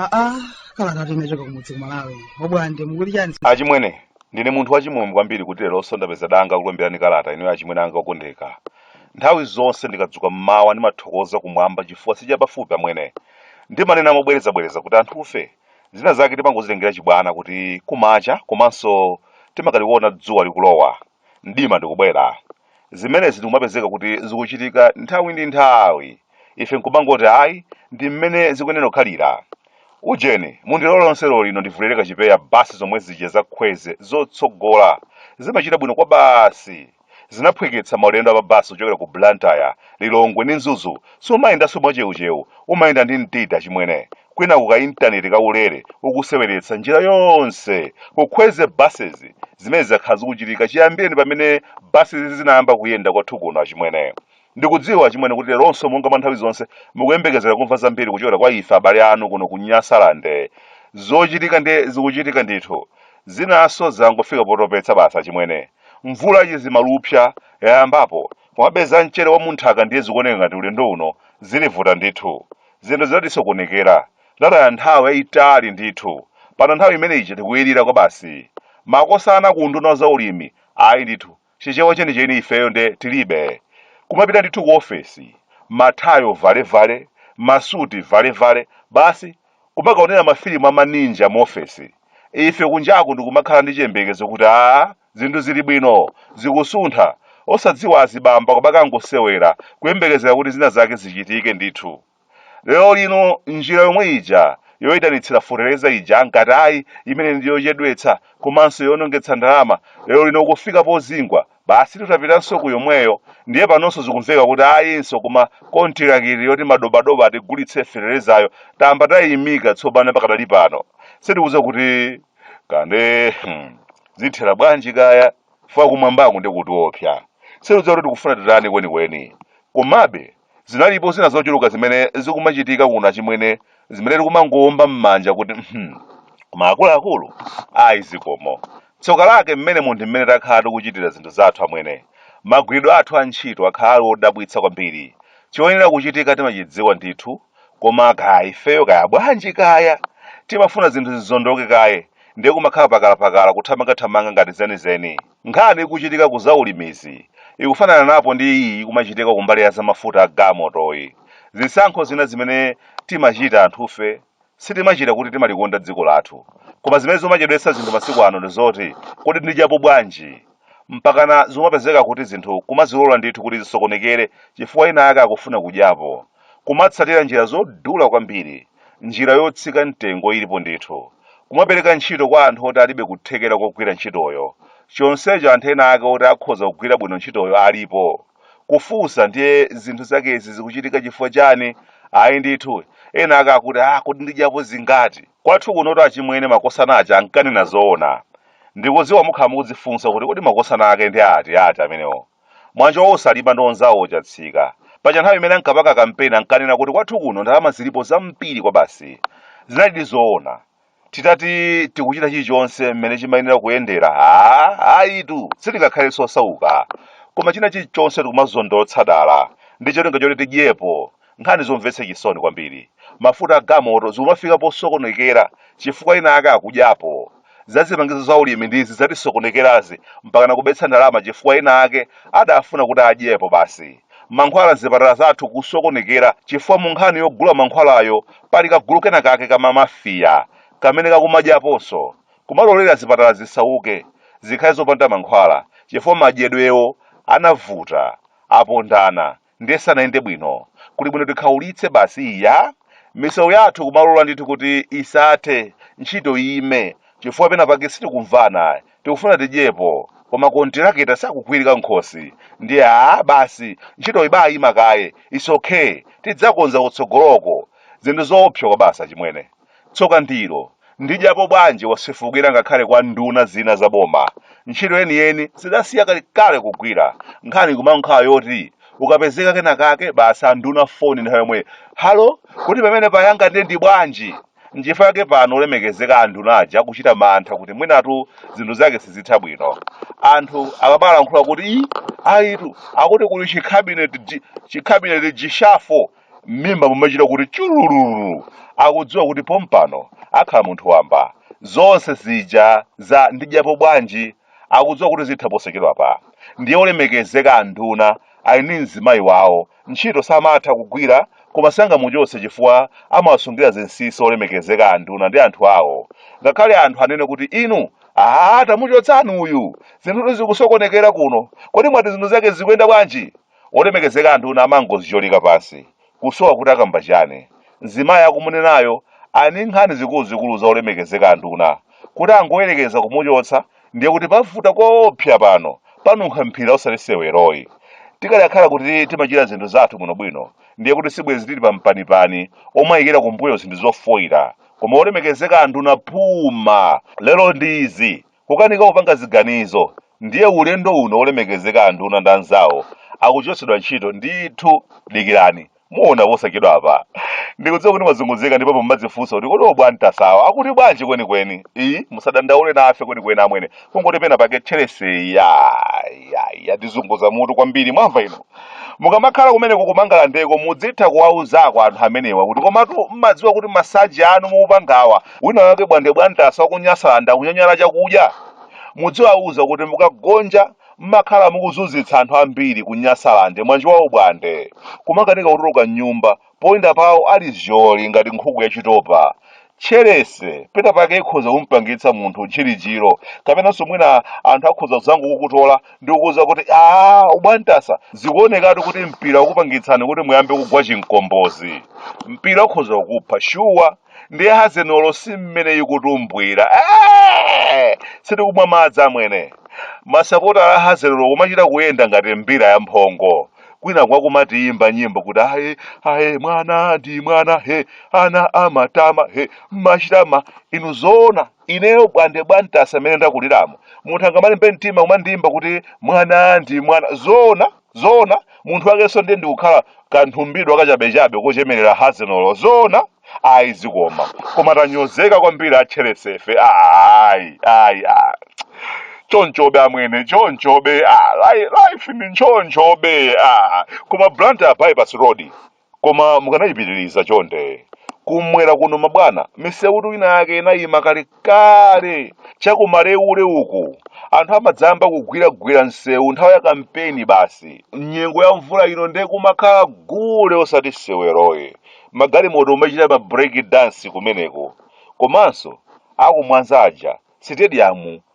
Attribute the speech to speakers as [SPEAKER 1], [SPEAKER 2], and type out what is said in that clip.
[SPEAKER 1] aa kalata yochoka kumudzi kumalawi a Bwande mukuti chani achimwene
[SPEAKER 2] ndine munthu wachimwemwe kwambiri kuti leronso ndapeza danga kulemberani kalata ineyo achimwene anga okondeka nthawi zonse ndikadzuka mmawa ndimathokoza kumwamba chifukwa si chapafupi amwene ndimanena mobwerezabwereza kuti anthufe zina zake timangozitengera chibwana kuti kumacha komanso timakaliona dzuwa likulowa mdima ndikubwera zimenezi ndikumapezeka kuti zikuchitika nthawi ndi nthawi ife nkumangoti ayi ndi mmene zikuyenera kukhalira ujeni mundilole lero lino ndivulireko chipewa basi zomwe zija za Kwezy zotsogola zimachita bwino kwa basi zinaphweketsa maulendo a pa basi ochokera ku Blantyre, Lilongwe ndi Mzuzu sumayendanso mwachewuchewu, umayenda ndi mtima achimwene, kwinaku ka intaneti ka ulere ukuseweretsa njira yonse ku Kwezy buses zimene zakhala zikuchitika chiyambireni pamene basizi zinayamba kuyenda kwathu kuno achimwene. Ndikudziwa achimwene kuti leronso monga mwa nthawi zonse mukuyembekezera kumva zambiri kuchokera kwa ife abale anu kuno ku Nyasalande. Zochitika ndiye zikuchitika ndithu. Zinanso zangofika potopetsa basi achimwene. Mvula ya chizimalupsa yayambapo komabe za mchere wa munthaka ndiye zikuoneka ngati ulendo uno zitivuta ndithu. Zinthu zinatisokonekera, tinataya nthawi yayitali ndithu. Pano nthawi imene ija tikuyilira kwa basi. Makosana ku unduna wa zaulimi, ayi ndithu, Chichewa chenicheni ifeyo nde tilibe. Kumapita ndithu ku ofesi, mathayo valevale, masuti valevale, basi kumakaonera mafilimu a ma ninja mu ofesi. ife kunjaku ndikumakhala ndi chiyembekezo kuti aa zinthu zili bwino zikusuntha osadziwa azibambo kumakangosewera kuyembekezera kuti zina zake zichitike ndithu lero lino njira yomwe ija yoyitanitsira fotereza ija ankati ayi imeneyi ndi yochedwetsa komanso yonongetsa ndalama lero lino kufika pozingwa Basi titapitanso ku yomweyo ndiye panonso zikumveka kuti ayinso koma kontilakiti yoti madobadoba atigulitse feterezayo tamba tayimika tsopano pakadali pano sitikudziwa kuti kankhani hmm, zithera bwanji kaya chifukwa kumwambaku ndi kutiopsa sitikudziwa kuti tikufuna titani kwenikweni komabe Zinalipo zina zochuluka zimene zikumachitika kuno achimwene zimene tikumangowomba m'manja kuti hmm, koma akuluakulu ayi zikomo. Tsoka lake mmene munthu mmene takhala tikuchitira zinthu zathu amwene. Magwiridwe athu a ntchito akhala ali odabwitsa kwambiri. Choyenera kuchitika timachidziwa ndithu, koma kaya ifeyo kaya bwanji kaya. Timafuna zinthu zizondoke kaye, ndiye kumakhala pakalapakala kuthamangathamanga ngati zenizeni. Nkhani ikuchitika ku zaulimizi ikufanana napo ndi iyi ikumachitika kumbali ya zamafuta a gamotoyi. Zisankho zina zimene timachita anthufe sitimachita kuti timalikonda dziko lathu. Koma zimene zomachedwetsa zinthu masiku ano ndi zoti kodi ndidyapo bwanji? Mpakana zomapezeka kuti zinthu kumazilola ndithu kuti zisokonekere chifukwa ena ake akufuna kudyapo. Kumatsatira njira zodula kwambiri, njira yotsika mtengo ilipo ndithu, kumapereka ntchito kwa anthu oti alibe kuthekera kogwira ntchitoyo, chonsecho anthu ena ake oti akhoza kugwira bwino ntchitoyo alipo. Kufunsa ndiye zinthu zakezi zikuchitika chifukwa chani? Ayi ndithu, ena ake akuti ah kodi ndidyapo zingati? Kwathu kunotu achimwene makosana aja ankanena zoona. Ndikudziwa mukhala mukudzifunsa kuti kodi makosana ake ndi ati ati amenewo? Mwanjowo osalipa ndi onzawo chatsika. Paja nthawi imene ankapaka kampeni ankanena kuti kwathu kuno ndalama zilipo zambiri kwabasi. Zinalidi zoona. Titati tikuchita chilichonse mmene chimayenera kuyendera, haa, ayitu, sitingakhale osauka. Koma china chilichonse tikumazondotsa dala ndi cholinga choti tidyepo, Nkhani zomvetsa chisoni kwambiri. Mafuta a gamoto zikumafika posokonekera chifukwa ena ake akudyapo. Za zipangizo za ulimi ndizi zatisokonekerazi mpakana kubetsa ndalama chifukwa ena ake adafuna kuti adyepo basi. Mankhwala m'zipatala zathu kusokonekera chifukwa mu nkhani yogula mankhwalayo pali kagulu kena kake ka ma Mafia kamene kakumadyaponso, kumalolera zipatala zisauke, zikhale zopanda mankhwala chifukwa madyedwewo anavuta, apondana, ndiye sanayende bwino kuli bwino tikhaulitse basi iya misewu yathu kumalola ndithu kuti isathe ntchito iyime chifukwa pena pake sitikumvana tikufuna tidyepo koma kontiraketa sakugwirika nkhosi ndiye aa basi ntchito ibayima kaye is okay tidzakonza kutsogoloko zinthu zoopsa kwabasi achimwene Tsoka ndilo, ndidyapo bwanji wasefukira ngakhale kwa nduna zina za boma. Ntchito yeniyeni zidasiya kalekale kugwira. Nkhani ikumangokhala yoti ukapezeka kenakake basi anduna foni nthawi yomwe, Halo, kodi pamene payanga ndiye ndi bwanji? Nchifukwa chake pano olemekezeka anduna aja akuchita mantha kuti mwinatu zinthu zake sizitha bwino. Anthu akamalankhula kuti, Ii, ayitu, akuti kuli chikhabineti chikhabineti reshuffle m'mimba mumachita kuti chulululu akudziwa kuti pompano akhala munthu wamba zonse zija za ndidyapo bwanji akudziwa kuti zitha posachedwapa ndiye olemekezeka anduna ali ndi mzimayi wawo ntchito samatha kugwira koma sangamuchotse chifukwa amawasungira zinsinsi olemekezeka anduna ndi anthu awo ngakhale anthu anene kuti inu aa tamuchotsani uyu zinthu zikusokonekera kuno kodi mwati zinthu zake zikuyenda bwanji Olemekezeka anduna amangozicholika pansi kusowa kuti akamba chani mzimayi akumunenayo ali ndi nkhani zikuluzikulu za olemekezeka anduna kuti angoyelekeza kumuchotsa ndiye kuti pavuta koopsya pano panunkha mphira osati seweroyi tikadakhala kuti timachita zinthu zathu bwinobwino ndiye kuti sibwezi tili pa mpanipani omayikira kumbuyo zinthu zofoila koma olemekezeka anduna phuma lelo ndi izi Kukanika kupanga ziganizo ndiye ulendo uno olemekezeka anduna ndi anzawo akuchotsedwa ntchito ndithu dikirani muona posachedwa apa ndikudziwa kuti mwazunguzika ndipo mumadzifunsa kuti kodi a Bwantasawa akuti bwanji kwenikweni ayi musadandaule nafe kwenikweni amwene kungoti pena pake tcherese ya ya ya ndizunguza mutu kwambiri mwamva ino mukamakhala kumeneko ku Mangalandeko mudzitha kuwauzako anthu amenewa kuti komatu mmadziwa kuti masanje anu mukupangawa wina wake bwande bwantasa wakunyasalande akunyanyala chakudya mudziwauza kuti mukagonja mmakhala mukuzunzitsa anthu ambiri ku nyasalande mnjawawo bwande kumakanika kutuluka mnyumba poyenda pawo ali zyolizyoli ngati nkhuku yachitopa tcherese pena pake ikhoza kumpangitsa munthu ntchirijiro kapenanso mwina anthu akhoza kuzangokukutola ndi kukuuza kuti aa ubwantasa zikuonekatu kuti mpira wakupangitsani kuti muyambe kugwa chinkombozi mpira ukhoza kukupha shuwa ndiye hazenolo si mmene ikutumbwira Eh! sitikumwa madzi amwene masapota a hazenolo kumachita kuyenda ngati mbira ya mphongo kwinaku akumatiyimba nyimbo kuti aye aye mwana ndi mwana he ana amatama he machitama inu zoona ineyo bwande bwantasa mmene ndakuliramu munthu angamalimbe mtima kumandiyimba kuti mwana ndi mwana zoona zoona munthu wakenso ndiye ndikukhala kanthumbidwa kachabechabe kochemerera hazenolo zoona ayi zikomo koma tanyozeka kwambiri atcheresefe ayi ayi ah. chonchobe amwene chonchobe ah. li- life ndi chonchobe ah. koma blantyre bypass road koma mukanayipitiriza chonde kumwera kuno mabwana misewutu ina yake inayima kalekale chakumalewule uku anthu amadzayamba kugwiragwira msewu nthawi ya kampeni basi nyengo ya mvula ino nde kumakhala gule osati seweroyi magalimoto kumachita ma break dance kumeneko komanso akumwanza aja sitediyamu